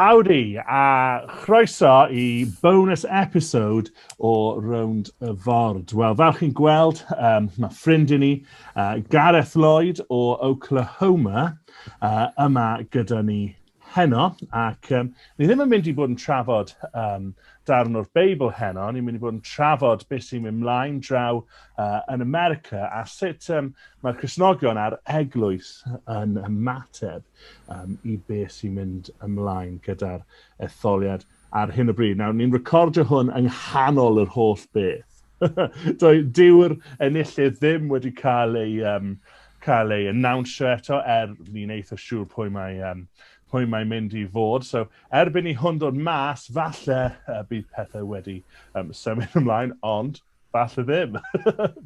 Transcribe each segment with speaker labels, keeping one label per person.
Speaker 1: Howdy, a chroeso i bonus episode o Round y Ford. Wel, fel chi'n gweld, um, mae ffrind i ni, uh, Gareth Lloyd o Oklahoma, uh, yma gyda ni heno, ac um, ni ddim yn mynd i bod yn trafod um, darn o'r Beibl heno, ni'n mynd i bod yn trafod beth sy'n mynd mlaen draw uh, yn America a sut um, mae'r Cresnogion a'r eglwys yn ymateb. um, i beth sy'n mynd ymlaen gyda'r etholiad ar hyn o bryd. Nawr, ni'n recordio hwn yng nghanol yr holl beth. Dyw'r enillydd ddim wedi cael ei, um, cael ei annawnsio eto, er ni'n eitha siŵr pwy mae, um, pwy mae mynd i fod. So, erbyn i hwn dod mas, falle uh, bydd pethau wedi um, symud ymlaen, ond falle ddim.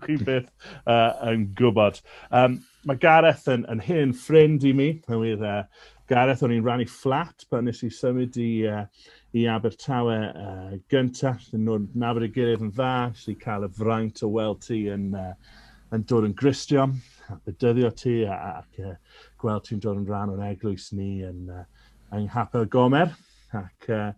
Speaker 1: Chi beth uh, yn gwybod. Um, mae Gareth yn, yn hen ffrind i mi. Hwyr, uh, Gareth, o'n i'n rannu fflat pan nes i symud i, uh, i Abertawe uh, gyntaf. Nhw'n nabod y gilydd yn dda, nes i cael y fraint o weld ti yn, uh, yn dod yn gristio, a bydyddio ti, ac uh, gweld ti'n dod yn rhan o'n eglwys ni yn, uh, yng Nghapel Gomer. Ac, uh,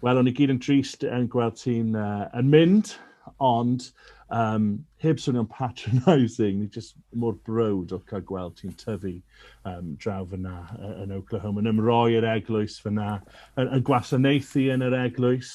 Speaker 1: wel, o'n i gyd yn trist yn gweld ti'n uh, yn mynd, ond um, heb swnio'n patronising, ni jyst mor brod o cael gweld ti'n tyfu um, draw fyna uh, yn Oklahoma, yn ymroi yr eglwys fyna, yn, yn gwasanaethu yn yr eglwys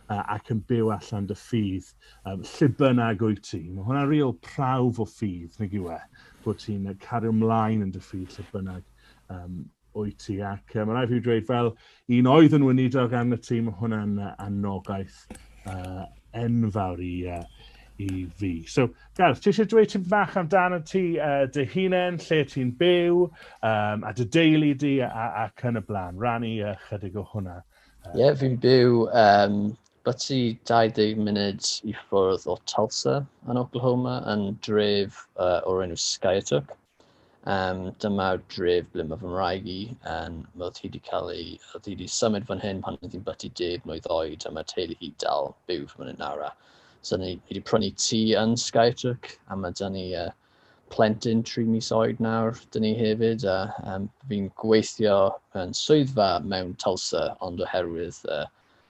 Speaker 1: uh, ac yn byw allan dy ffydd, um, lle bynnag wyt ti. Mae hwnna'n real prawf o ffydd, nag yw e, bod ti'n cario ymlaen yn dy ffydd lle bynnag um, Wyt ti, ac mae'n rhaid fi dweud fel un oedd yn weinidog arno y tîm, hwnna'n anogaeth uh, enfawr i, uh, i fi. So, Gareth, ti eisiau dweud ti'n bach amdano ti uh, dy hunain, lle ti'n byw, um, a dy deulu di, ac yn y blaen. Rannu uh, chydig o hwnna. Ie, uh, yeah, fi'n
Speaker 2: byw um, byty 20 munud i ffwrdd o Tulsa yn Oklahoma, yn dref uh, o'r enw Skyatuck. Um, dyma dref ble mae fy mraig i, um, mae oedd hi wedi cael ei, oedd hi wedi symud fan hyn pan oedd hi'n byty deg mlynedd oed, a mae teulu hi dal byw fan hyn nawr. So ni, ni wedi prynu tŷ yn Skytruck, a mae dyn ni uh, plentyn tri mis oed nawr, dyn ni hefyd, a um, fi'n gweithio yn swyddfa mewn Tulsa, ond oherwydd uh,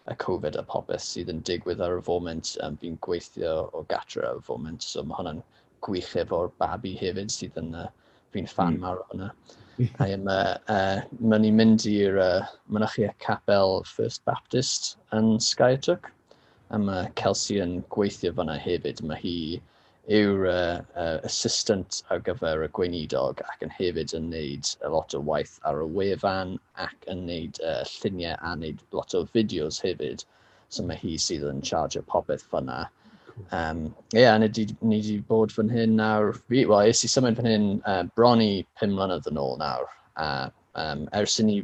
Speaker 2: y Covid a popeth sydd yn digwydd ar y foment, um, fi'n gweithio o gatra ar y foment, so mae hwnna'n gwych efo'r babi hefyd sydd yn uh, fi'n fan mm. mawr o hwnna. I am, uh, uh, mae ni'n mynd i'r uh, mynychu y capel First Baptist yn Skytook. A mae Kelsey yn gweithio fanna hefyd. Mae hi yw'r uh, uh, assistant ar gyfer y gweinidog ac yn hefyd yn neud a lot o waith ar y wefan ac yn neud uh, lluniau a neud lot o fideos hefyd. So mae hi sydd yn charge o popeth fyna. Um, yeah, a ni wedi bod fan hyn nawr, wel, es i symud fan hyn uh, bron i 5 mlynedd yn ôl nawr. A um, ers i ni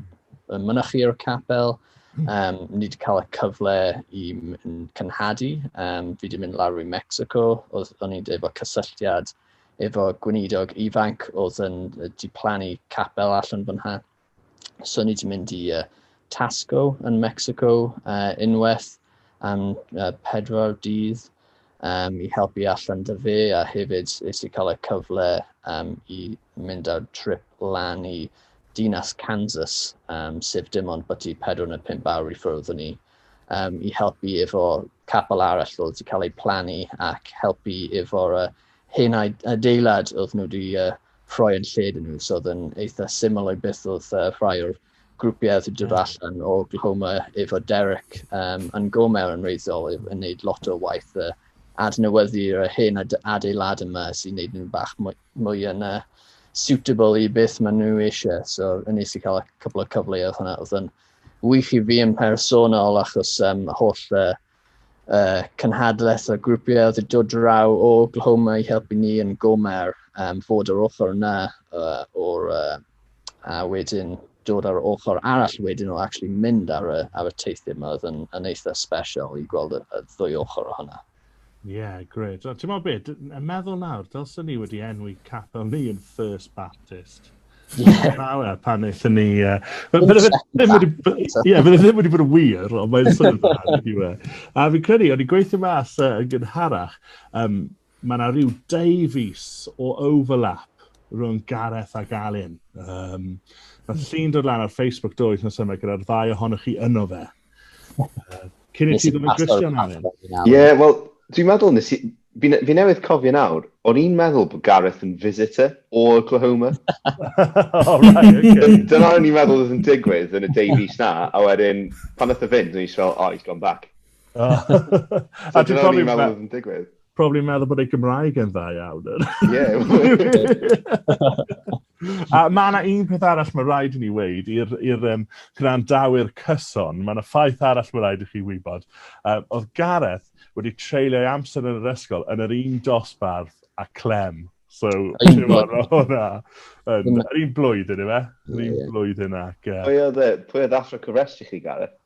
Speaker 2: mynychu o'r capel, um, ni wedi cael y cyfle i cynhadu. Um, fi wedi mynd lawr i Mexico, oedd o'n i'n efo cysylltiad efo gweinidog ifanc oedd yn di plannu capel allan fan hyn. So ni wedi mynd i uh, Tasco yn Mexico uh, unwaith am uh, pedwar dydd um, i helpu allan dy fe a hefyd is i cael y cyfle um, i mynd ar trip lan i dinas Kansas, um, sef dim ond bod i 4 neu 5 awr i ffwrdd o'n ni, um, i helpu efo capel arall oedd wedi cael ei plannu ac helpu efo'r uh, hen adeilad oedd nhw wedi uh, rhoi yn lle iddyn nhw, so oedd yn eitha syml o'i byth oedd uh, rhai o'r grwpiau oedd yn dod allan o Oklahoma efo Derek um, yn go mewn yn reiddiol yn gwneud lot o waith uh, adnewyddu'r hen adeilad yma sy'n gwneud nhw'n bach mwy, mwy yn uh, suitable i beth maen nhw eisiau. So, yn nes i cael y cwbl o cyfleoedd hwnna. Oedd yn wych i fi yn personol achos um, holl uh, uh, cynhadledd a grwpiau oedd yn dod draw o Oklahoma i helpu ni yn Gomer um, fod yr ochr yna uh, o'r uh, a wedyn dod ar ochr arall wedyn o actually mynd ar y, ar y teithio yma oedd yn, yn eitha special i gweld y, y ddwy ochr o hwnna. Ie, yeah, gred.
Speaker 1: Ti'n meddwl beth, yn meddwl nawr, dylsyn ni wedi enwi capel ni yn First Baptist. Ie. Na, wel, pan eithon ni... Uh, Bydde fe ddim wedi bod yn wir, ond mae'n swnio'n dda, wedi we. A fi'n credu, o'n i'n gweithio mas uh, yn gynharach, um, mae yna rhyw dau fus o overlap rhwng Gareth ac Alun. Um, mae llun dod lan ar Facebook do wythnos yma gyda'r ddau ohonoch chi yno fe. Cyn i ti ddod yn Christian am hyn. Ie, wel,
Speaker 3: dwi'n meddwl, nes i... Fi, fi newydd cofio nawr, o'n i'n meddwl bod Gareth yn visitor o Oklahoma. oh,
Speaker 1: right, okay. Dyna o'n i'n meddwl oedd yn
Speaker 3: digwydd yn y deu fus na, a wedyn, pan oedd y fynd, o'n i'n fel, oh, he's gone back. Oh. so, dyna o'n i'n meddwl oedd yn digwydd. probably yn meddwl bod ei
Speaker 1: Gymraeg yn dda iawn. a mae yna un peth arall mae rhaid i ni weid i'r um, gwrandawyr cyson, mae yna ffaith arall mae rhaid i chi wybod. Uh, oedd Gareth wedi treulio ei amser yn yr ysgol yn yr un dosbarth a Clem. So, ti'n gwybod, mae hwnna yn yr un blwyddyn, efe? Yr un blwyddyn ac... Pwy oedd e? Pwy oedd athro
Speaker 3: cyfres i chi, Gareth?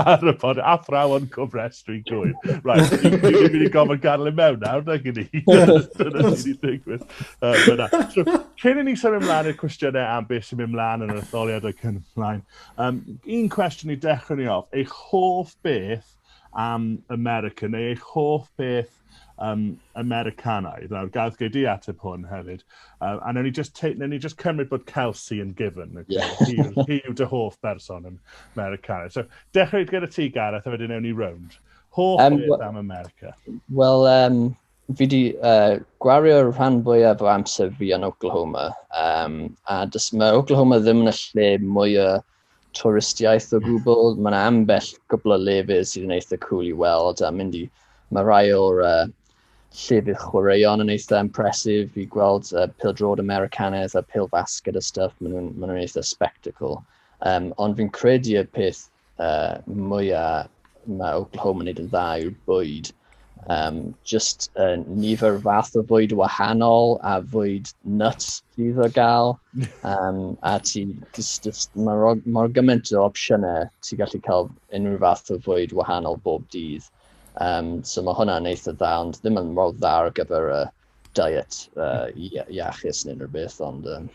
Speaker 1: ar y pod, athrawon cofrestru gwyr. Right, dwi'n mynd i gofyn gael ei mewn nawr, na gyn i. Dyna sy'n ei digwydd. Cyn i ni symud ymlaen i'r cwestiynau am beth sy'n mynd ymlaen yn yr etholiad o'r cyn ymlaen, um, un cwestiwn i dechrau ni off, eich hoff beth am America, neu eich hoff beth um, Americanaidd. Nawr, gael gei di ateb hwn hefyd. Uh, a newn ni just, te, newn ni just cymryd bod Kelsey yn given. Okay? Yeah. hi, hi yw dy hoff berson yn Americanaidd. So, dechrau gyda ti, Gareth, a wedyn newn ni round. Hoff um, beth am America? Wel, um,
Speaker 2: fi wedi uh, gwario'r rhan fwyaf o amser fi yn Oklahoma. Um, a dys, mae Oklahoma ddim yn y lle mwyaf twristiaeth o gwbl. Mae yna ambell gwbl o lefydd sydd yn eitha cool i weld a mynd i... Mae rhai o'r uh, llefydd chwaraeon yn eitha impresif i gweld uh, pildrod Americanaidd a pil basged a stuff. Maen nhw'n ma nhw eitha spectacle. Um, ond fi'n credu y peth uh, mwyaf mae Oklahoma yn neud yn dda yw'r bwyd. Um, just uh, nifer fath o fwyd wahanol a fwyd nuts sydd o gael. Um, a ti, just, just, mae mor, mor gymaint o opsiynau, ti gallu cael unrhyw fath o fwyd wahanol bob dydd. Um, so mae hwnna'n eitha dda, ond ddim yn mor dda ar gyfer y, diet uh, iachus neu rhywbeth, ond um,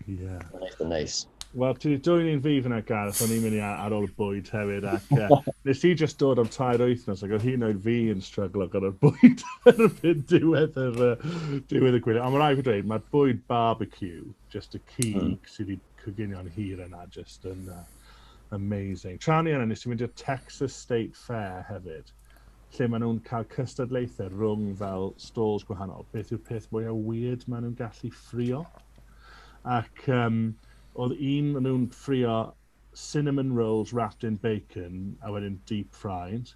Speaker 2: yeah. mae'n eitha neis. Wel, ti wedi dwy'n
Speaker 1: un fi fyna, Gareth, o'n i'n mynd i ar ôl y bwyd hefyd, ac uh, nes i just dod am tair wythnos, ac oedd hi'n oed fi yn stryglo gyda'r bwyd erbyn diwedd, yr, uh, diwedd y gwylio. Ond mae'n rhaid i ddweud, mae'r bwyd barbecue, just y cig mm. sydd wedi coginio'n hir yna, just yn uh, amazing. Tra ni yna, nes i mynd i'r Texas State Fair hefyd. lle maen nhw'n cael cystadlaethau rhwng fel stalls gwahanol, beth yw'r peth mwyaf weird maen nhw'n gallu ffrio. Ac um, oedd un maen nhw'n ffrio cinnamon rolls wrapped in bacon a wedyn deep fried.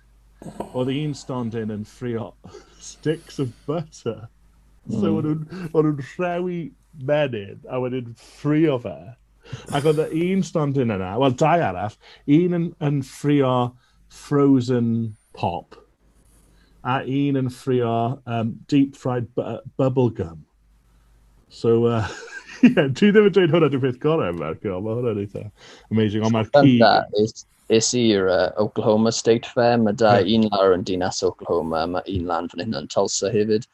Speaker 1: Oedd un stondin yn ffrio sticks of butter. Mm. So o'n nhw'n nhw rhewi menyn a wedyn ffrio fe. Ac oedd un stondin yna, wel dau arall, un yn, yn ffrio frozen pop, a un yn ffrio um, deep fried bu bubble gum. So, uh, yeah, dwi ddim yn dweud hwnna dwi'n peth gorau yn America, ond mae hwnna'n eitha amazing, ond mae'r cig... Is i'r uh,
Speaker 2: Oklahoma State Fair, mae da yeah. un lawr yn dinas Oklahoma, mae un lan fan hyn yn Tulsa hefyd.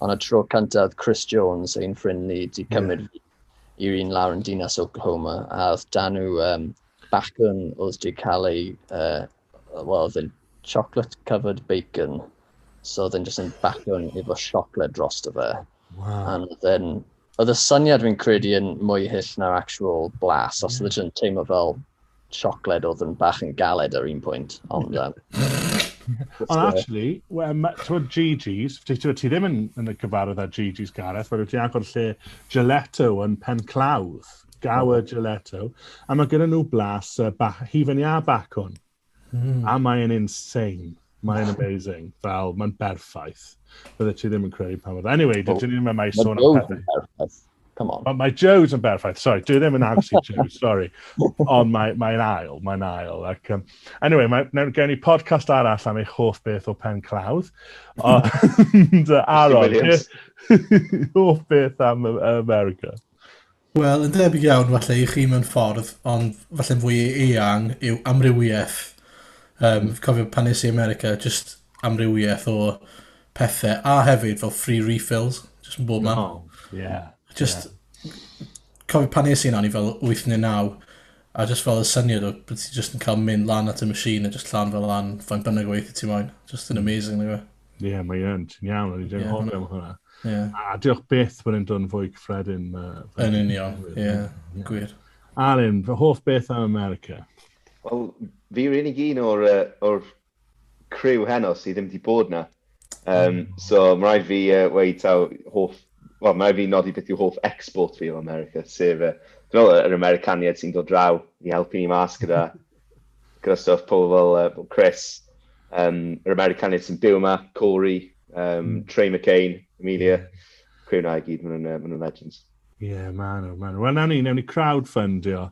Speaker 2: Ond y tro cyntaf, Chris Jones, ein ffrind ni, di cymryd yeah. i'r un lawr yn dinas Oklahoma, a oedd dan nhw um, bacwn oedd wedi cael ei, uh, well, oedd yn chocolate covered bacon, so oedd yn just yn bacwn efo siocled dros dy fe. Wow. And oedd
Speaker 1: yn,
Speaker 2: oedd y syniad fi'n credu yn mwy hyll na'r actual blas, os oedd yn teimlo fel siocled oedd yn bach yn galed ar un pwynt, ond... Um, ond actually,
Speaker 1: ti'n Gigi's, ti ddim yn, yn y cyfarwydd ar Gigi's Gareth, fe ti'n agor lle Gelato yn pen clawdd, Gower oh. Gelato, a mae gyda nhw blas uh, ba, hufen iâ bacwn, mm. a mae'n insane. Mae'n amazing. Fel, mae'n berffaith. Bydde ti ddim yn credu pa mor... Anyway, dydyn ni'n mynd mai sôn am pethau. Come on. Mae, mae
Speaker 2: Joe's yn berffaith,
Speaker 1: sorry, dwi ddim yn agos i Joe's, sorry. Ond mae'n mae ail, mae'n ail. Ac, um, anyway, mae, mae gen i podcast arall am eich hoff beth o pen clawdd. Ond, uh, Aaron, hoff beth am America?
Speaker 4: Wel, yn debyg iawn, falle i chi mewn ffordd, ond falle fwy eang yw amrywiaeth. Um, cofio pan nes i America, just amrywiaeth o pethe, a hefyd fel free refills, just yn bob man. Oh, yeah. Just, yeah. cofio pan nes i yna, ni fel 8 neu 9, a just fel y syniad o bod ti just yn cael mynd lan at y machine a just llan fel lan, fain bynnag o weithio ti moyn. Just yn hmm. amazing, nag Ie, yeah, mae yn,
Speaker 1: ti'n iawn, o'n i ddim hoffi am hwnna. Yeah. A diolch
Speaker 4: beth
Speaker 1: bod yn dod yn fwy cyffredin. Yn union,
Speaker 4: ie, gwir. Alun, fy
Speaker 1: hoff beth am America? Wel,
Speaker 3: fi rili really un o'r, uh, or criw heno sydd ddim wedi bod na. Um, so mae rhaid fi uh, weid taw hoff, well, mae rhaid fi nodi beth yw hoff export fi o America, sef uh, fel yr Americaniad sy'n dod draw i helpu ni mas gyda, gyda stuff pobl fel uh, Chris, um, yr Americaniad sy'n byw yma, Corey, um, hmm. Trey McCain, Amelia, criw na i gyd, maen nhw'n uh, ma legends. Ie, yeah, maen nhw,
Speaker 1: maen nhw. Wel, nawn ni, nawn ni crowdfundio,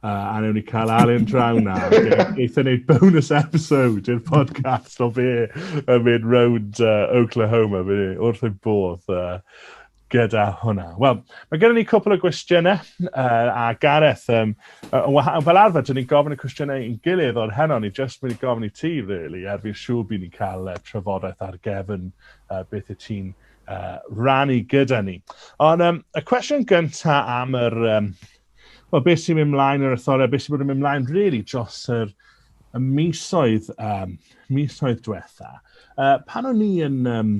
Speaker 1: uh, a nawn ni cael Alun draw na. Eitha wneud bonus episode i'r podcast o fe yn mynd round uh, Oklahoma, fe wrth ei bodd uh, gyda hwnna. Wel, mae gennym ni cwpl o gwestiynau, uh, a Gareth, um, uh, fel arfer, dyn ni'n gofyn y cwestiynau i'n gilydd o'r heno, ni jyst mynd i gofyn i ti, really, er fi'n siŵr bydd ni'n cael uh, trafodaeth ar gefn uh, beth y ti'n uh, rannu gyda ni. Ond um, y cwestiwn gynta am yr... Um, Wel, beth sy'n mynd mlaen yr etholiad, beth sy'n bod yn mynd mlaen, really, dros yr, y misoedd, um, misoedd diwetha. Uh, pan o'n ni yn, um,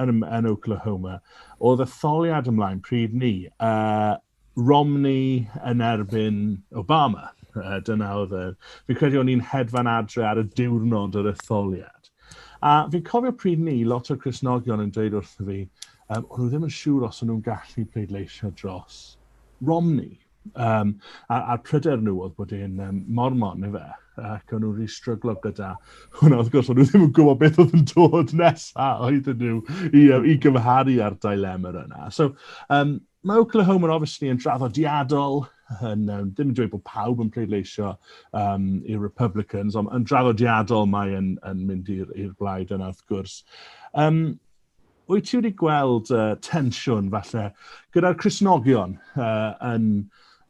Speaker 1: yn, yn Oklahoma, oedd etholiad ymlaen pryd ni, uh, Romney yn erbyn Obama. Uh, dyna oedd yr... Fi'n credu o'n i'n hedfan adre ar y diwrnod yr etholiad. A fi'n cofio pryd ni, lot o'r Cresnogion yn dweud wrtho fi, um, o'n nhw ddim yn siŵr os o'n nhw'n gallu pleidleisio dros Romney. Um, a'r, ar pryder nhw oedd bod e'n um, mormon, neu fe, ac o'n nhw'n rhi stryglo gyda hwnna. Wrth gwrs, o'n nhw ddim yn gwybod beth oedd yn dod nesaf oedd nhw i, um, i gymharu â'r dilemma yna. So, um, Mae Oklahoma obviously yn draddodiadol, yn, um, ddim yn dweud bod pawb yn pleidleisio um, i'r Republicans, ond yn draddodiadol mae yn, yn mynd i'r blaid yna wrth gwrs. Um, wyt ti wedi gweld uh, tensiwn falle gyda'r Cresnogion uh, yn,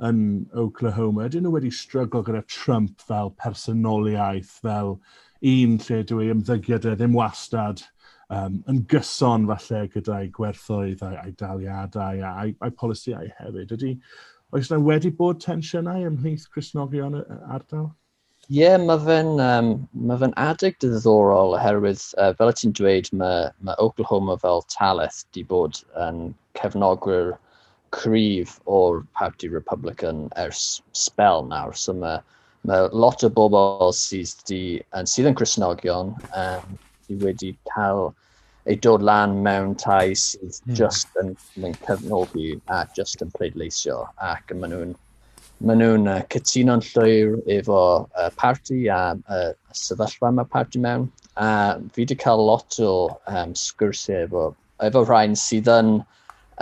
Speaker 1: yn Oklahoma? Ydyn nhw wedi stryglo gyda Trump fel personoliaeth, fel un lle dyw ei ymddygiad e ddim wastad um, yn gyson falle gyda'i gwerthoedd a'i, a'i daliadau a'i, a'i polisïau hefyd. Ydy, oes yna wedi bod tensiynau ymhlith Cresnogion y ardal? Ie, yeah, mae
Speaker 2: fe'n um, ma fe adeg diddorol oherwydd, uh, fel y ti'n dweud, mae, mae Oklahoma fel taleth di bod yn cefnogwyr cryf o'r Parti Republican ers spel nawr. So mae, mae lot o bobl sydd, di, sydd yn Cresnogion um, sydd wedi cael ei dod lan mewn tai sydd hmm. just yn, yn cyfnogi a just yn pleidleisio ac maen nhw'n Maen nhw'n uh, cytuno'n llwyr efo uh, parti a uh, sefyllfa mae parti mewn. A fi wedi cael lot o um, sgwrsiau efo efo rhain sydd yn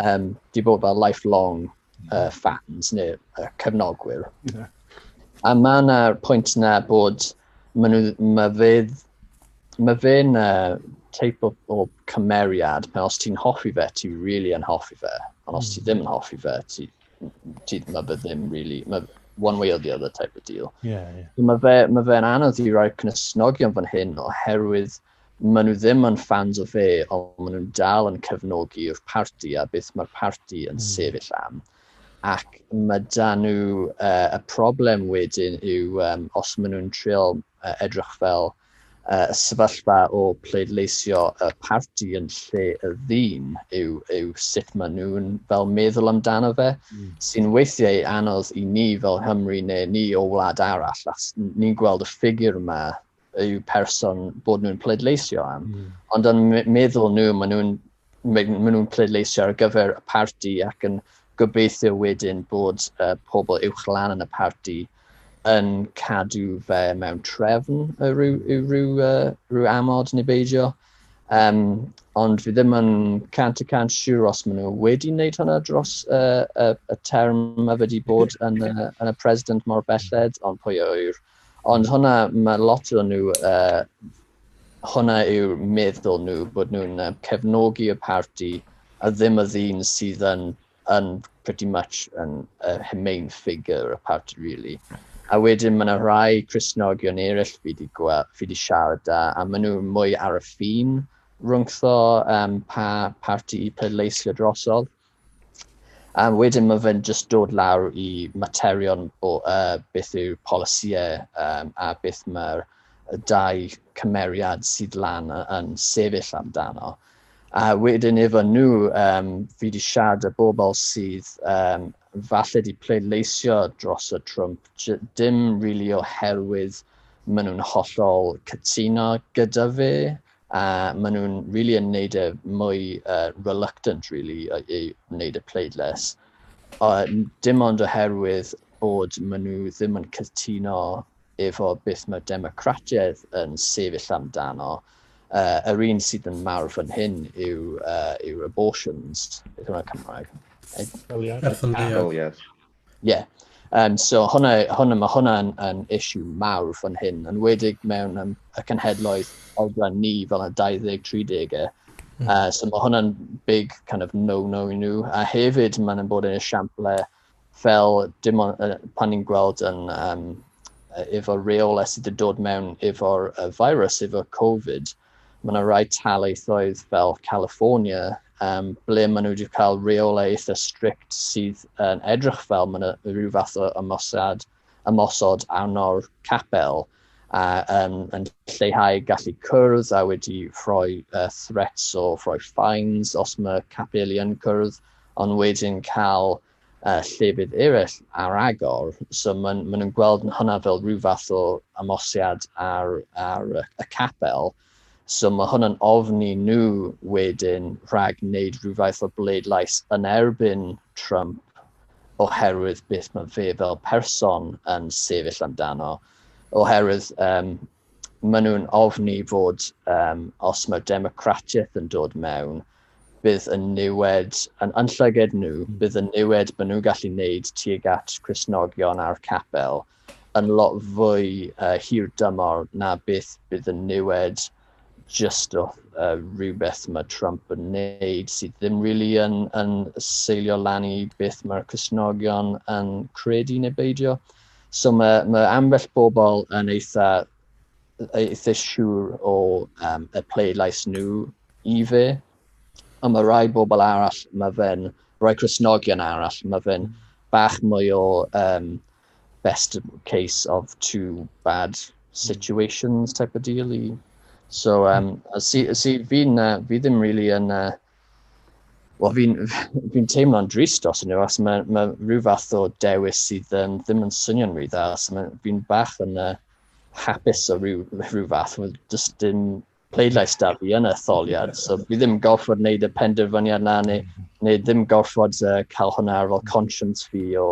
Speaker 2: um, di bod fel lifelong uh, fans neu uh, cefnogwyr. Yeah. A mae yna pwynt yna bod mae nhw, mae fydd, mae fe'n uh, teip o, o cymeriad, pan os ti'n hoffi fe, ti really yn hoffi fe, ond os ti hmm. ddim yn hoffi fe, ti, ti mae fe ddim really, mae one way or the other type of deal. Yeah, yeah.
Speaker 1: Mae
Speaker 2: fe'n fe, ma anodd i roi cnysnogion fan hyn oherwydd Maen nhw ddim yn ffans o fe, ond maen nhw'n dal yn cefnogi'r parti a beth mae'r parti yn mm. sefyll am. Ac mae da nhw, uh, y problem wedyn yw um, os maen nhw'n trio uh, edrych fel uh, sefyllfa o pleidleisio y parti yn lle y ddyn yw, yw sut maen nhw'n fel meddwl amdano fe, mm. sy'n weithiau anodd i ni fel Hymru neu ni o wlad arall. Ni'n gweld y ffigur yma y person bod nhw'n pleidleisio am. Mm. Ond yn meddwl nhw, maen nhw'n ma nhw pleidleisio ar gyfer y parti ac yn gobeithio wedyn bod uh, pobl uwch lan yn y parti yn cadw fe mewn trefn y rhyw, y rhyw, uh, rhyw amod neu beidio. Um, ond fi ddim yn cant y cant siŵr os maen nhw wedi wneud hwnna dros uh, uh, y term a wedi bod yn, uh, yn y president mor belled, ond pwy yw'r Ond hwnna, mae lot o nhw, uh, hwnna yw'r meddwl nhw, bod nhw'n uh, cefnogi y parti a ddim y ddyn sydd yn, yn pretty much yn uh, main figure y parti, really. A wedyn mae yna rhai Cresnogion eraill fi wedi fi wedi siarad da, a maen nhw mwy ar y ffin rhwngtho um, pa parti i pleidleisio drosodd. A wedyn mae fe'n just dod lawr i materion o uh, beth yw polisïau um, a beth mae'r dau cymeriad sydd lan yn sefyll amdano. A wedyn efo nhw, um, fi wedi siarad y bobl sydd um, falle wedi pleidleisio dros y Trump, dim rili really oherwydd maen nhw'n hollol cytuno gyda fe, a maen nhw'n really yn neud e mwy uh, reluctant really i, i wneud y pleidlais. A dim ond oherwydd bod maen nhw ddim yn cytuno efo beth mae democratiaeth yn sefyll amdano. Uh, yr un sydd yn mawr fan hyn yw, uh, yw abortions, beth yma Cymraeg? Etholiad. Etholiad.
Speaker 3: Ie. Yeah.
Speaker 2: Um, so hwnna, hwnna, mae hwnna'n yn issue mawr fan hyn, yn wedig mewn um, y cenhedloedd oedran ni fel y 20-30au. Mm. Uh, so mae hwnna'n big kind of no-no i nhw. A hefyd mae'n yn bod yn esiample fel dim ond, uh, pan ni'n gweld yn um, efo reoles sydd wedi dod mewn efo'r uh, virus, efo Covid, Mae yna rai talaethoedd fel California um, ble maen nhw wedi cael reolau eitha strict sydd yn uh, edrych fel maen nhw rhyw fath o ymosod, ymosod arno'r capel a um, yn lleihau gallu cwrdd a wedi rhoi uh, threats o rhoi fines os mae capeli yn cwrdd ond wedyn cael a llefydd eraill ar agor. So maen ma nhw'n gweld hwnna fel rhyw fath o amosiad ar, ar y capel. So mae hwnna'n ofni nhw wedyn rhag wneud rhyw fath o bleidlais yn erbyn Trump oherwydd beth mae fe fel person yn sefyll amdano. Oherwydd um, Maen nhw'n ofni fod um, os mae democratiaeth yn dod mewn, bydd y niwed, yn, yn llyged nhw, hmm. bydd y niwed maen nhw'n gallu wneud tuag at Cresnogion a'r capel yn lot fwy uh, hir dymor na beth bydd y niwed just o uh, rhywbeth mae Trump yn wneud sydd ddim really yn, yn seilio lan i beth mae'r Cresnogion yn credu neu beidio. So mae, mae ambell bobl yn eitha, eitha siŵr o um, y pleidlais nhw i fi. Ond mae rhai bobl arall, mae fe'n rhai Cresnogion arall, mae fe'n bach mwy o um, best case of two bad situations type of deal i. So, um, a si, si fi'n, uh, fi ddim really yn, uh, Wel, fi'n fi teimlo'n drist os yna, os mae, mae rhyw fath o dewis sydd um, ddim yn swnio'n rhy dda, os mae fi'n bach yn uh, hapus o rhyw, rhyw fath, mae jyst dim pleidlais da fi yn y tholiad, so fi ddim gorfod wneud y penderfyniad na, neu, neu ddim gorfod uh, cael hwnna ar ôl conscience fi o,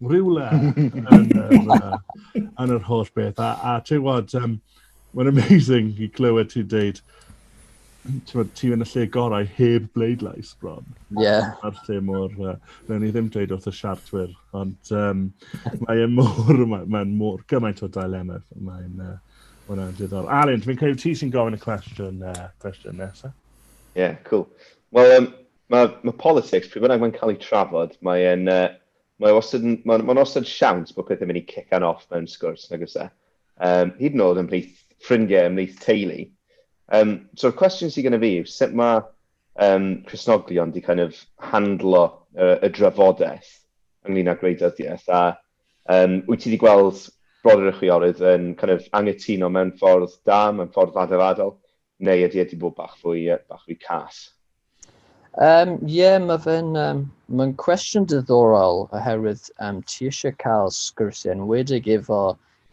Speaker 1: rhywle yn, uh, yn yr holl beth. A, a ti'n gwybod, um, mae'n amazing i glywed ti dweud, ti yn y lle gorau heb bleidlais bron. Ie. Yeah. A'r lle
Speaker 2: mor,
Speaker 1: uh, rhaid ni ddim dweud wrth y siartwyr, ond um, mae'n mor, mae'n mae mor gymaint o dilemma. Mae'n uh, hwnna'n diddorol. Alun, dwi'n credu ti sy'n gofyn y cwestiwn, uh, cwestiwn nesaf. Ie, yeah,
Speaker 3: cool. Wel, um, mae ma politics, pryd bynnag mae'n cael ei trafod, mae'n uh, mae wastad yn, mae'n ma wastad siawns bod pethau'n mynd i cican off mewn sgwrs, nag oes e? Um, hyd yn oed ymhlith ffrindiau, ymhlith teulu. Um, So'r cwestiwn sydd gennym fi yw sut mae um, Cresnoglion wedi kind of handlo uh, y drafodaeth ynglyn â gwleidyddiaeth a um, wyt ti wedi gweld brodyr y chwiorydd yn kind of angytuno mewn ffordd da, mewn ffordd ddadafadol, Neu ydy e wedi bod bach fwy, bach fwy cas? Um, yeah, mae
Speaker 2: fe'n um, ma cwestiwn diddorol oherwydd um, ti eisiau cael sgyrsiau yn wedig efo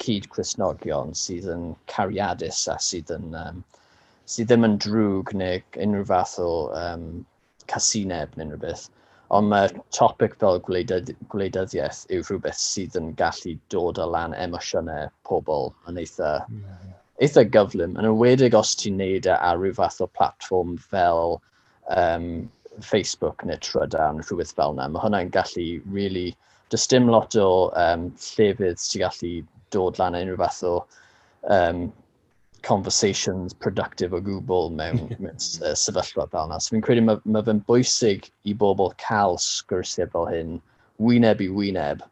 Speaker 2: cyd Crisnogion sydd yn cariadus a sydd, yn, um, sydd ddim yn drwg neu unrhyw fath o um, casineb neu'n rhywbeth, ond mae topic fel gwleidydd, gwleidyddiaeth yw rhywbeth sydd yn gallu dod o lan emosiynau pobl yn eitha, yeah. eitha gyflym, yn ymwedig os ti'n neud e ar rhyw fath o platform fel um, Facebook neu Trydan, rhywbeth fel yna. Mae hwnna'n gallu really, does dim lot o um, llefydd sy'n gallu dod lan unrhyw fath o um, conversations productive o gwbl mewn, mewn uh, sefyllfa fel yna. So fi'n credu mae, mae fe'n bwysig i bobl cael sgwrsiau fel hyn, wyneb i wyneb,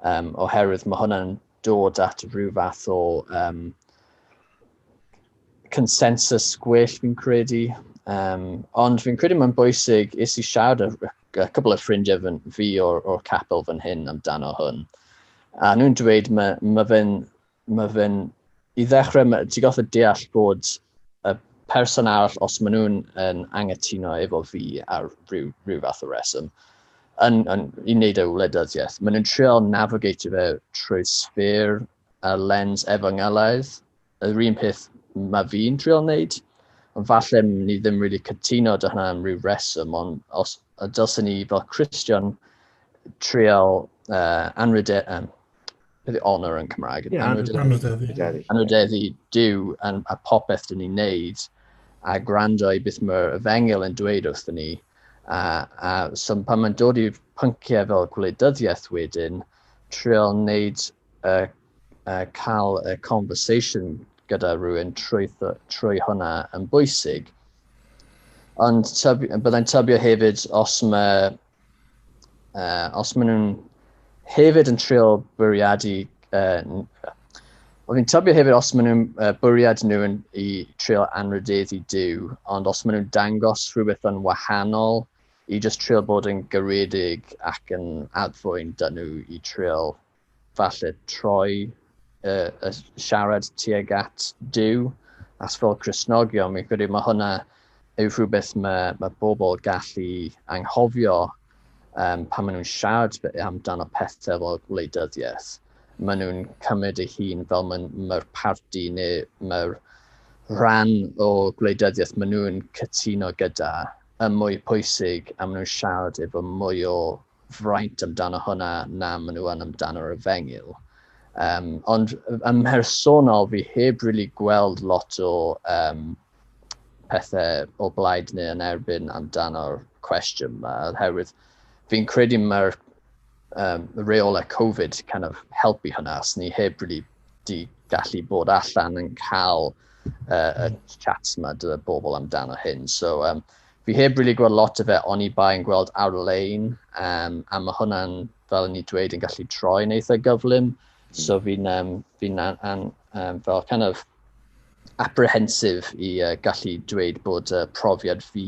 Speaker 2: um, oherwydd mae hwnna'n dod at rhyw fath o um, consensus gwell fi'n credu. Um, ond fi'n credu mae'n bwysig is i siarad a, a cwbl o ffrindiau fi o'r, or capel fan hyn amdano hwn. A nhw'n dweud mae, mae fe'n mae fe'n, i ddechrau, ti'n goffa deall bod y person arall, os maen nhw'n yn angytuno efo fi ar rhyw, rhyw fath o reswm, yn, yn, i wneud ei wleidyddiaeth, maen nhw'n trio navigate fe trwy sfer a lens efangylaidd, yr un peth mae fi'n trio wneud, ond falle ni ddim really cytuno dy hynna am rhyw reswm, ond os, dylsyn ni fel Christian trial uh, anrhydedd, um, Beth yw honour yn Cymraeg? Ie, anwydeddu. Anwydeddu Dyw yn, a popeth dyn ni'n neud, a gwrando i beth mae'r efengil yn dweud wrth ni. A, a so pan mae'n dod i'r pynciau fel gwleidyddiaeth wedyn, trio wneud y, y cael y conversation gyda rhywun trwy, trwy hwnna yn bwysig. Ond tybi, byddai'n tybio hefyd os mae uh, os maen nhw'n hefyd yn trio bwriadu, uh, o fi'n tybio hefyd os maen nhw'n uh, bwriad nhw yn, i trio anrhydedd i Dyw, ond os maen nhw'n dangos rhywbeth yn wahanol i just trio bod yn garedig ac yn adfwyn dyn nhw i trio falle troi uh, uh, siarad tuag at Dyw, as fel Cresnogion, mi'n credu mae hwnna yw rhywbeth mae, mae bobl gallu anghofio um, pan maen nhw'n siarad amdano pethau fel gwleidyddiaeth. Maen nhw'n cymryd ei hun fel mae'r mae parti neu mae'r rhan o gwleidyddiaeth maen nhw'n cytuno gyda y mwy pwysig a maen nhw'n siarad efo mwy o fraint amdano hwnna na maen nhw yn amdano'r efengyl. Um, ond yn mhersonol, fi heb really gweld lot o um, pethau o blaid neu yn erbyn amdano'r cwestiwn yma, oherwydd fi'n credu mae'r um, reolau Covid kind of helpu hynna, os ni heb really di gallu bod allan yn cael uh, y chats yma dy bobl amdano hyn. So, um, fi heb really gweld lot o fe ond i bai yn gweld ar-lein um, a mae hwnna'n fel ni dweud yn gallu troi yn eitha gyflym hmm. so fi'n um, fi an, an, um, fel kind of apprehensive i uh, gallu dweud bod uh, profiad fi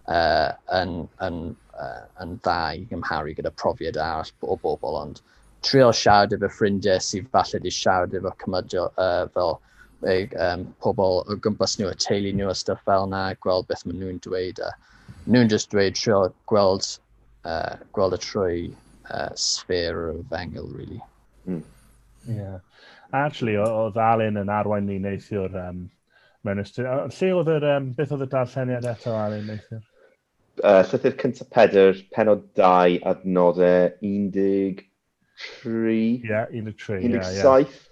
Speaker 2: uh, yn, yn, uh, yn dda i gymharu gyda profiad arall o bobl ond trio siarad efo ffrindiau sydd falle wedi siarad efo cymydio uh, fel Mae um, pobl o gwmpas nhw, y teulu nhw a stuff fel yna, gweld beth maen nhw'n dweud. A nhw'n just dweud trio gweld, uh, gweld y trwy uh, sfer o fengil, really. Mm.
Speaker 1: Yeah. Actually, oedd Alun yn arwain ni neithiwr um, mewn ystod... Lle oedd yr... Um, beth oedd y darlleniad eto, Alun, neithiwr? Uh, llythyr
Speaker 3: cyntaf Pedr, penod 2, adnodau 18 tri.
Speaker 1: Ie, yeah, 13. Ie, yeah, yeah. 17.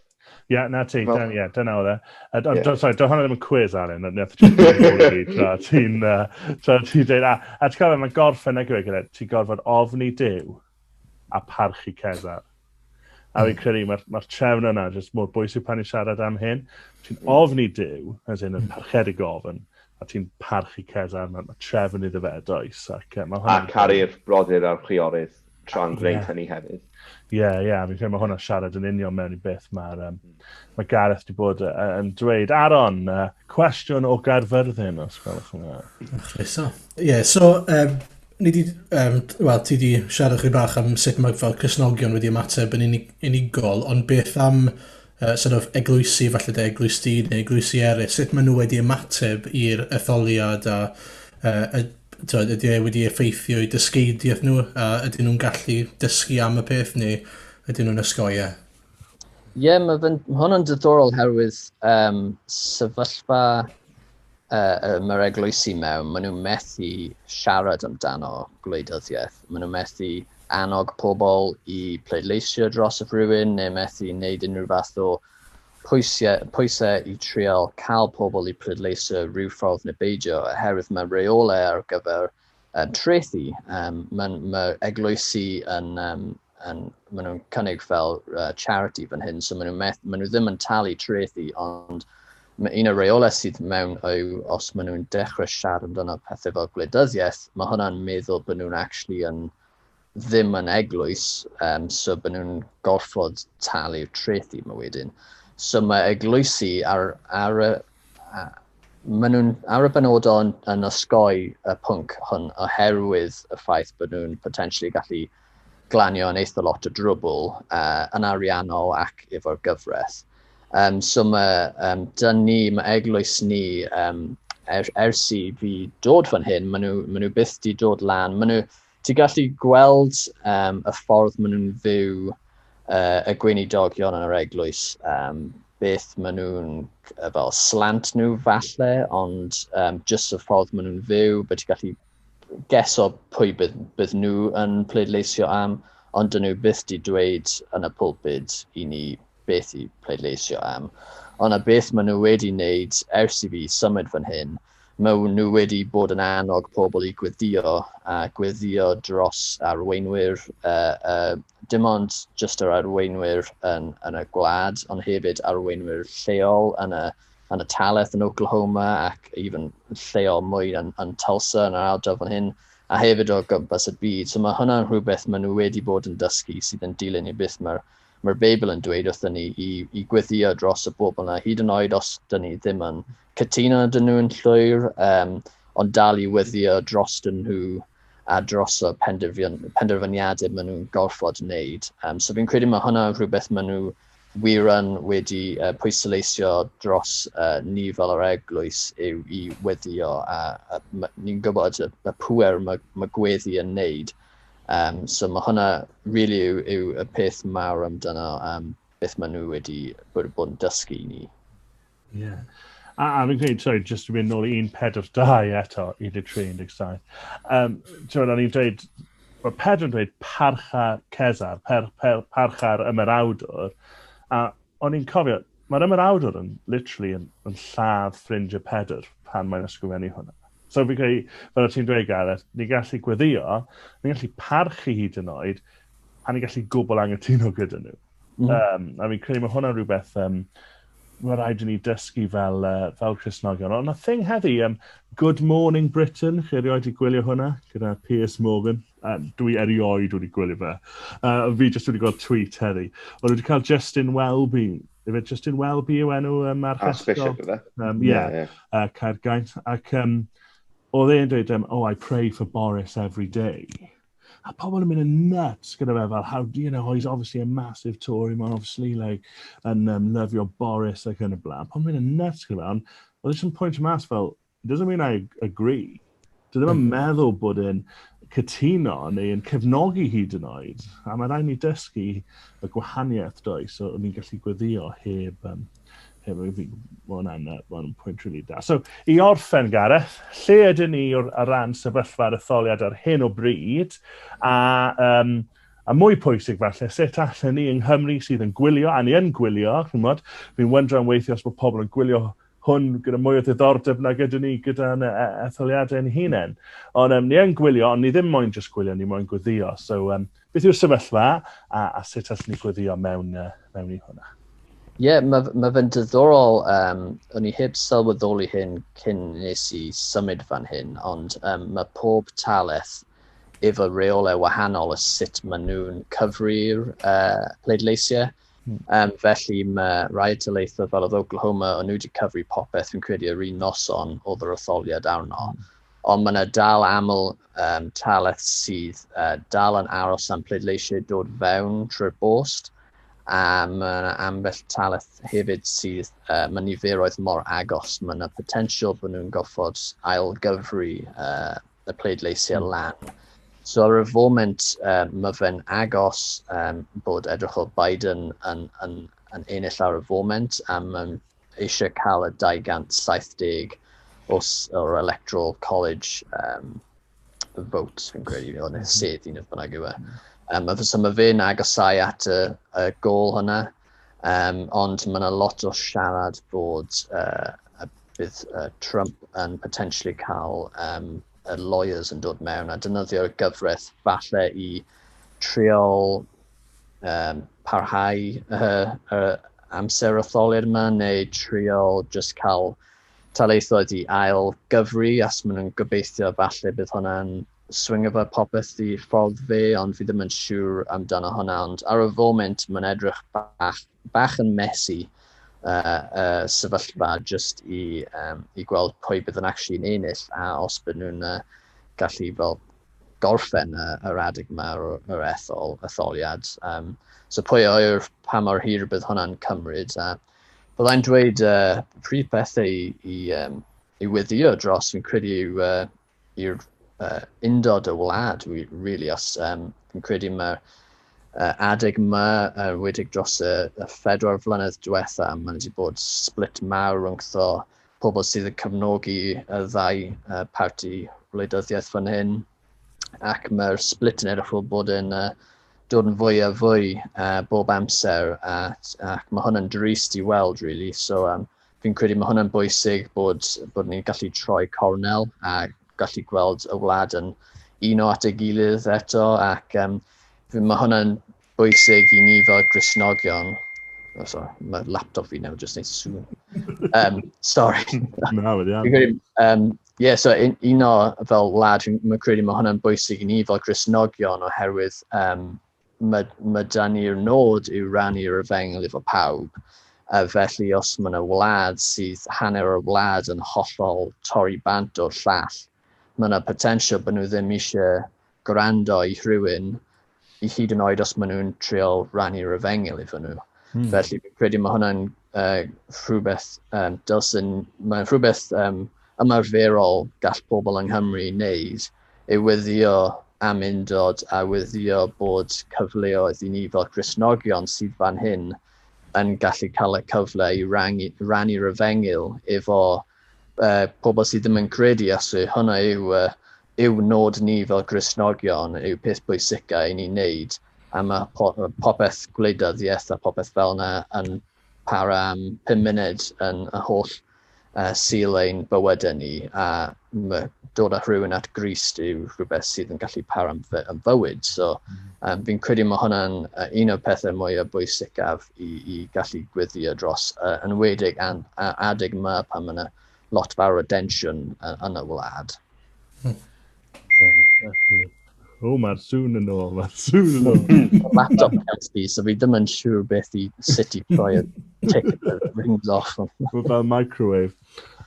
Speaker 1: Ie,
Speaker 3: yeah, na
Speaker 1: ti, well, yeah, dyna oedd e. Ond, yeah. do, sorry, do hwnna ddim yn cwiz, Alan, ond neth ti'n dweud, tra ti'n dweud, a, a ti'n cofio, mae'n gorffen ag yw e, ti'n gorfod ofni dew a parchu Cesar. A fi'n hmm. credu, mae'r ma trefn yna jyst mor bwysig pan i siarad am hyn. Ti'n hmm. ofni dew, as in, yn hmm. parchedig ofn, a ti'n parchu Cesar, mae ma trefn iddo fe, does. Ac, uh, a caru'r
Speaker 3: brodyr a'r chwiorydd. tra'n gwneud yeah. hynny hefyd. Ie, yeah, ie, yeah, fi'n
Speaker 1: credu mae hwnna'n siarad yn union mewn i beth mae'r um, hmm. mae Gareth wedi bod uh, yn dweud. Aaron, uh, cwestiwn o Gaerfyrddin, os gwelwch yn dda. Chriso.
Speaker 4: Ie, yeah, so, um, ni di, um, well, ti di siarad chi bach am sut mae fel cysnogion wedi ymateb yn unig, unigol, ond beth am uh, sort of eglwysi, falle de eglwysi neu eglwysi eraill, sut maen nhw wedi ymateb i'r etholiad a uh, y, tywed, ydy e wedi effeithio i dysgeidiaeth nhw a ydyn nhw'n gallu dysgu am y peth neu ydyn nhw'n ysgoia?
Speaker 2: Ie, yeah, mae hwn yn diddorol herwydd um, sefyllfa yy mae'r eglwysi mewn, maen nhw'n methu siarad amdano gwleidyddiaeth, maen nhw'n methu annog pobl i pleidleisio dros y rhywun neu methu wneud unrhyw fath o pwysau, pwysau i trial cael pobl i pleidleisio rhyw ffordd neu beidio oherwydd mae reolau ar gyfer uh, trethi. Um, Mae ma eglwysi yn, um, yn maen nhw'n cynnig fel uh, charity fan hyn, so maen nhw, meth, maen nhw ddim yn talu trethi, ond mae un o'r reolau sydd mewn yw os maen nhw'n dechrau siarad amdano pethau fel gwleidyddiaeth, mae hwnna'n meddwl bod nhw'n actually yn ddim yn eglwys, um, so byd nhw'n gorfod talu'r treth i ma wedyn. So mae eglwysi ar, ar y... A, maen nhw'n ar y benodol yn, yn osgoi y pwnc hwn oherwydd y ffaith bod nhw'n potensially gallu glanio yn eitha lot o drwbl uh, yn ariannol ac efo'r gyfraith. Um, so mae um, dyn ni, mae eglwys ni um, er, ers i fi dod fan hyn, maen nhw, maen nhw byth di dod lan, maen nhw Ti'n gallu gweld um, y ffordd maen nhw'n fyw uh, y gweinidogion yn yr eglwys, um, beth maen nhw'n uh, fel slant nhw falle, ond um, jyst y ffordd maen nhw'n fyw, beth ti'n gallu geso pwy bydd, bydd nhw yn pleidleisio am, ond dyn nhw byth di dweud yn y pulpud i ni beth i pleidleisio am. Ond a beth maen nhw wedi wneud ers i fi symud fan hyn, Maen nhw wedi bod yn annog pobl i gweddio a gweddio dros arweinwyr, uh, uh, dim ond jyst yr arweinwyr yn, yn y gwlad, ond hefyd arweinwyr lleol yn y, yn y taleth yn Oklahoma ac even lleol mwy yn, yn Tulsa yn yr ardal fan hyn, a hefyd o gwmpas y byd. So mae hwnna'n rhywbeth maen nhw wedi bod yn dysgu sydd yn dilyn i beth mae'r mae'r Beibl yn dweud wrthyn ni i, i gweddio dros y bobl yna, hyd yn oed os dyn ni ddim yn cytuno dyn nhw'n llwyr, um, ond dal i weddio dros dyn nhw a dros y penderfyniadau maen nhw'n gorfod wneud. Um, so fi'n credu mae hwnna rhywbeth maen nhw wir yn wedi uh, pwysleisio dros uh, ni fel yr eglwys yw i weddio a, a ni'n gwybod y, y pwer mae, mae gweddi yn neud. Um, so mae hwnna really yw, yw y peth mawr amdano um, beth maen nhw wedi bod yn dysgu ni.
Speaker 1: Yeah. A, a fi'n credu, sorry, just to mynd nôl i 142 eto, 13-17. Um, Ti'n o'n i'n dweud, mae Pedro yn dweud parcha Cesar, per, per, parcha'r ymerawdwr. A o'n i'n cofio, mae'r ymerawdwr yn literally yn, yn lladd ffrindiau Pedr pan mae'n ysgrifennu hwnna. So fi'n credu, fel o ti'n dweud Gareth, ni'n gallu gweddio, ni'n gallu parchu hyd yn oed, a ni'n gallu gwbl angytuno gyda nhw. Mm. Um, a fi'n credu mae hwnna'n rhywbeth um, mae rhaid i ni dysgu fel, uh, fel Cresnogion. Ond y thing heddi, um, Good Morning Britain, chi erioed i gwylio hwnna, gyda Piers Morgan. Uh, dwi erioed wedi gwylio fe. Uh, fi jyst wedi gweld tweet heddi. Ond wedi cael Justin Welby. Efe Justin Welby yw enw um, ar Archbishop, efe? Um,
Speaker 3: yeah, yeah, yeah. Uh,
Speaker 1: Caergaint. Ac um, oedd e'n dweud, um, oh, I pray for Boris every day. A pobl yn mynd yn nuts gyda fe fel how, you know, oh he's obviously a massive Tory, mae'n obviously like yn um, lyfio Boris ac yn y blaen. Pobl yn mynd yn nuts gyda fe, ond oedd eisiau pwynt mas fel, it doesn't mean I agree. Dwi ddim yn mm. meddwl bod yn cytuno neu yn cefnogi hyd yn oed. A mae rhaid ni dysgu y gwahaniaeth does, so ni'n gallu gweddio heb um, Hefyd, fi, mae hwnna'n uh, ma pwynt rili really da. So, i orffen, Gareth, lle ydyn ni o'r ar ran sefyllfa'r etholiad ar hyn o bryd, a, um, a mwy pwysig falle, sut allan ni yng Nghymru sydd yn gwylio, a ni yn gwylio, chymod, fi'n wyndro am weithio os mae pobl yn gwylio hwn gyda mwy o ddiddordeb nag ydyn ni gyda'n e, etholiadau'n hunain. Ond um, ni yn gwylio, ond ni ddim moyn just gwylio, ni moyn gwyddio. So, um, Beth yw'r sefyllfa a, a sut allwn ni gweddio mewn, uh, mewn i hwnna? Ie, yeah,
Speaker 2: mae, mae fe'n diddorol, um, o'n i heb sylweddoli hyn cyn nes i symud fan hyn, ond um, mae pob talaeth efo reolau wahanol y sut maen nhw'n cyfri'r uh, pleidleisiau. Mm. Um, felly mae rai talaethau fel oedd Oklahoma, o'n nhw wedi cyfri popeth fi'n credu yr un noson oedd yr etholiad arno. Mm. Ond mae 'na dal aml um, talaith sydd uh, dal yn aros am pleidleisiau dod fewn trwy'r bost, a mae yna ambell talaith hefyd sydd, uh, mae niferoedd mor agos, mae yna potensial bod nhw'n goffod ailgyfru uh, y pleidleisiau hmm. lan. So ar y foment, uh, mae fe'n agos um, bod edrych o Biden yn, yn, yn ennill ar y foment, a mae'n eisiau cael y 270 os o'r Electoral College um, vote, fi'n credu, neu mm-hmm. sedd un oedd bynnag yw e. Um, so mae fe'n agosau at y, y gol hwnna, um, ond mae yna lot o siarad bod uh, a bydd uh, Trump yn potentially cael um, y lawyers yn dod mewn a dynyddio'r gyfraith falle i triol um, parhau uh, uh, amser y tholur yma neu triol just cael taleithoedd i ail gyfri as maen nhw'n gobeithio falle bydd hwnna'n swing efo popeth i ffordd fe ond fi ddim yn siŵr amdano hwnna ond ar y foment mae'n edrych bach bach yn messy uh, uh, sefyllfa just i, um, i gweld pwy bydd yn actually yn ennill a os bydd nhw'n uh, gallu fel gorffen y, yr adeg yma yr ethol, etholiad. Um, so pwy o'r pa mor hir bydd hwnna'n cymryd. A byddai'n dweud uh, pryd pethau i, i, um, i weddio dros fi'n credu yw uh, i'r uh, undod y wlad, really, os um, fi'n credu mae uh, adeg yma, uh, wedig dros y, y phedwar flynedd diwetha, mae wedi bod split mawr rhwngtho pobl sydd yn cyfnogi y ddau uh, parti wleidyddiaeth fan hyn, ac mae'r split yn edrych fel bod yn uh, dod yn fwy a fwy uh, bob amser, a, ac mae hwn yn drist i weld, really. So, um, fi'n credu mae hwnna'n bwysig bod, bod ni'n gallu troi cornel a gallu gweld y wlad yn uno at ei gilydd eto ac um, mae hwnna'n bwysig i ni fel grisnogion. Oh, sorry, mae laptop fi nawr jyst neud sŵn. Um, sorry. Na, wedi am.
Speaker 1: Um, yeah, so un,
Speaker 2: un o fel wlad, mae'n credu mae hwnna'n bwysig i ni fel grisnogion oherwydd um, mae, mae da ni'r nod yw rannu'r efengyl efo pawb, a felly os mae yna wlad sydd hanner o'r wlad yn hollol torri bant o'r llall, mae yna potensial bod nhw ddim eisiau gwrando i rhywun, i hyd yn oed os maen nhw'n triol rannu'r efengyl efo nhw. Hmm. Felly, fi'n credu mae hwnna'n uh, rhywbeth um, dylsyn, mae'n rhywbeth um, ymarferol gall pobl yng Nghymru wneud, ei weddïo am undod a weddïo bod cyfleoedd i ni fel Cristnogion sydd fan hyn yn gallu cael y cyfle i rannu, rannu'r efengyl efo uh, pobl sydd ddim yn credu asu. Hwna yw, uh, yw nod ni fel Cristnogion, yw peth bwysicau i ni wneud a mae popeth gwleidyddiaeth a popeth fel yna yn para am 5 munud yn y holl uh, syl ein bywydau ni a mae dod â rhywun at Grist yw rhywbeth sydd yn gallu par am, fy, am fywyd. So um, fi'n credu mae hwnna'n uh, un o'r pethau mwyaf bwysicaf i, i gallu gwyddio dros uh, enwedig an, uh, adeg yma pan mae yna lot fawr o densiwn uh, yn y wlad. Hmm. O, oh, mae'r
Speaker 1: sŵn yn ôl, mae'r sŵn yn ôl. Mae'r
Speaker 2: laptop cans di, so fi ddim yn siŵr beth i sut i troi y tick the rings off. Mae fel microwave.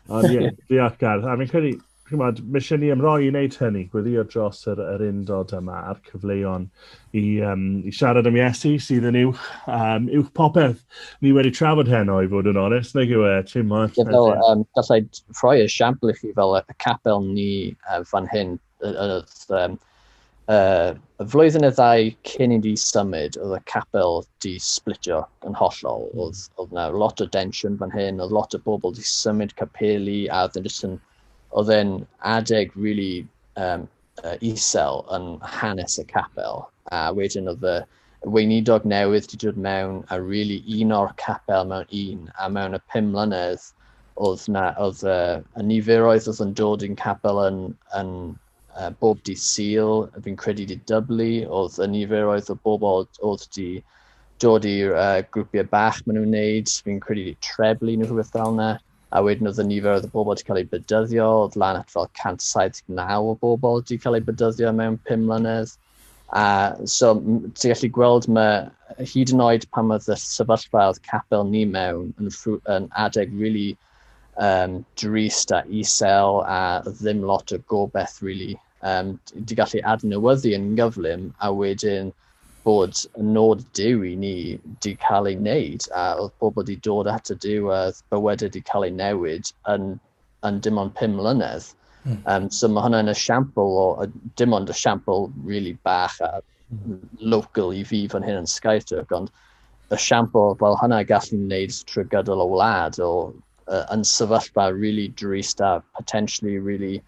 Speaker 1: Ond ie, di at gardd. A fi'n credu, chymod, mae eisiau ni ymroi i wneud hynny, gweddio dros yr, yr undod yma a'r cyfleon i, um, i siarad am Iesu sydd yn uwch, um, uwch popeth. Ni wedi trafod heno i fod yn onest, neu yw e, Tim Moore? Ie, fel, um, gallai
Speaker 2: rhoi esiampl i chi fel y capel ni uh, fan hyn, oedd um, uh, y flwyddyn y ddau cyn i ni symud, oedd y capel di splitio yn hollol. Hmm. Oedd, oedd na lot o densiwn fan hyn, oedd lot o bobl di symud capeli, a oedd yn, oedd e'n adeg really um, uh, isel yn hanes y capel, a wedyn oedd y weinidog newydd wedi dod mewn a really un o'r capel mewn un, a mewn y pum mlynedd, oedd, na, oedd uh, y niferoedd oedd yn dod i'n capel yn, yn uh, bob di syl, fi'n credu di dyblu, oedd y niferoedd o bobl oedd di dod i'r uh, grwpiau bach maen nhw'n wneud, fi'n credu di treblu nhw rhywbeth fel yna. a wedyn oedd y nifer oedd y bobl wedi cael ei bydyddio, oedd lan at fel 179 o bobl wedi cael ei bydyddio mewn 5 mlynedd. A so, ti'n gallu gweld mae hyd yn oed pan oedd y sefyllfa oedd capel ni mewn yn, yn adeg really um, drist a isel a ddim lot o gobeith really. um, di gallu adnewyddu yn gyflym a wedyn bod y nod Dyw i ni di cael ei wneud a oedd pobl di dod at y Dyw a oedd bywydau di cael ei newid yn, yn dim ond pum mlynedd. Mm. Um, so mae hwnna'n esiampl o, a dim ond esiampl really bach a hmm. local i fi fan hyn yn Skytook, ond esiampl fel hwnna gallu wneud trwy gydol y wlad o uh, yn sefyllfa really drist a potentially really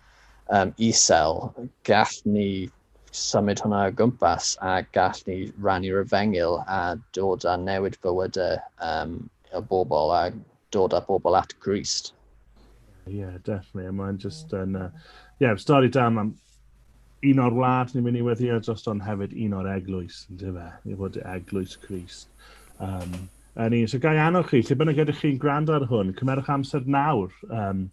Speaker 2: um, isel, gall ni symud hwnna o gwmpas a gall ni rannu'r efengyl a dod â newid bywydau um, y bobl a dod â bobl at Grist. Ie, yeah,
Speaker 1: definitely. Mae'n just yn... Uh, yeah, stori da, mae'n Un o'r wlad ni'n mynd i weddio dros don hefyd un o'r eglwys, yn dyfa, i fod y eglwys Christ. Um, yn un. So gai annog chi, lle bynnag ydych chi'n gwrando ar hwn, cymerwch amser nawr um,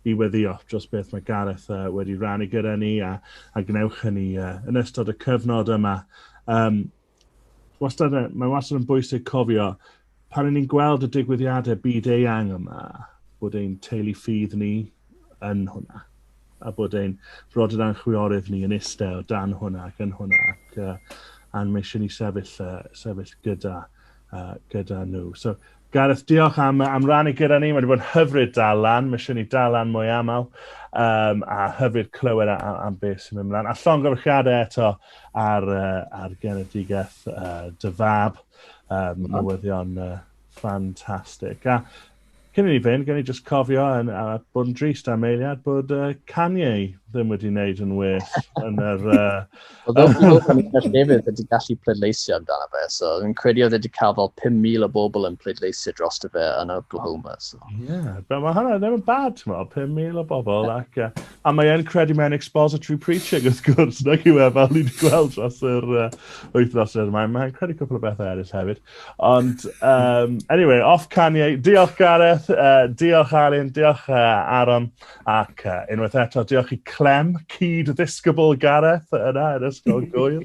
Speaker 1: i weddio dros beth mae Gareth uh, wedi rannu gyda ni a, a gwnewch hynny uh, yn ystod y cyfnod yma. Um, Wastad, mae wastad yn bwysig cofio, pan ry'n ni'n gweld y digwyddiadau byd eang yma, bod ein teulu ffydd ni yn hwnna, a bod ein brodyr a'n chwiorydd ni yn eistedd dan hwnna ac yn hwnna, ac uh, a'n mae eisiau ni sefyll, uh, sefyll gyda, uh, gyda nhw. So, Gareth diolch am yy am rannu gyda ni, mae wedi bod yn hyfryd dal lan, mae eisiau ni dal lan mwy aml, um, a hyfryd clywed a, a, am beth sy'n mynd mlaen. A llongyfarchiadau eto ar, uh, ar genedigaeth uh, dy fab, um, newyddion uh, ffantastig. A cyn i ni fynd, gen i just cofio yn, a bod yn drist am eiliad bod uh, Kanye ddim wedi wneud yn well yn yr uh, Oedd o'n gwybod pan i'n gallu
Speaker 2: efydd wedi gallu pleidleisio amdano fe, so yn credu oedd wedi cael fel 5,000 o bobl yn pleidleisio dros y fe yn Oklahoma. So. Yeah, but mae
Speaker 1: hwnna ddim yn bad, ti'n meddwl, 5,000 o bobl. Ac, uh, a mae e'n credu mae'n expository preaching, wrth gwrs, na chi we, fel ni wedi gweld dros yr uh, wythnos yr mae'n mae credu cwpl o bethau eraill hefyd. Ond, um, anyway, off Kanye, diolch Gareth, uh, diolch Alun, diolch uh, Aaron. Ac uh, unwaith eto, diolch i Clem, cyd ddisgybl Gareth yna yn ysgol gwyl.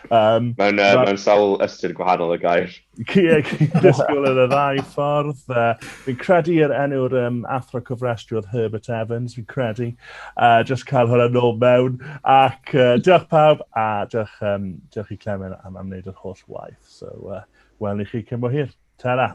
Speaker 1: Um, mewn, uh,
Speaker 3: mewn sawl ystyr gwahanol y gair. Cyd
Speaker 1: ddisgybl yn y ddau ffordd. Uh, fi'n credu yr enw'r um, athro cofrestru oedd Herbert Evans, fi'n credu. Uh, just cael hwnna nôl mewn. Ac uh, diolch pawb, a diolch, um, diolch i Clem am, am wneud yr holl waith. So, uh, wel ni chi cymwyd hir. Ta-ra!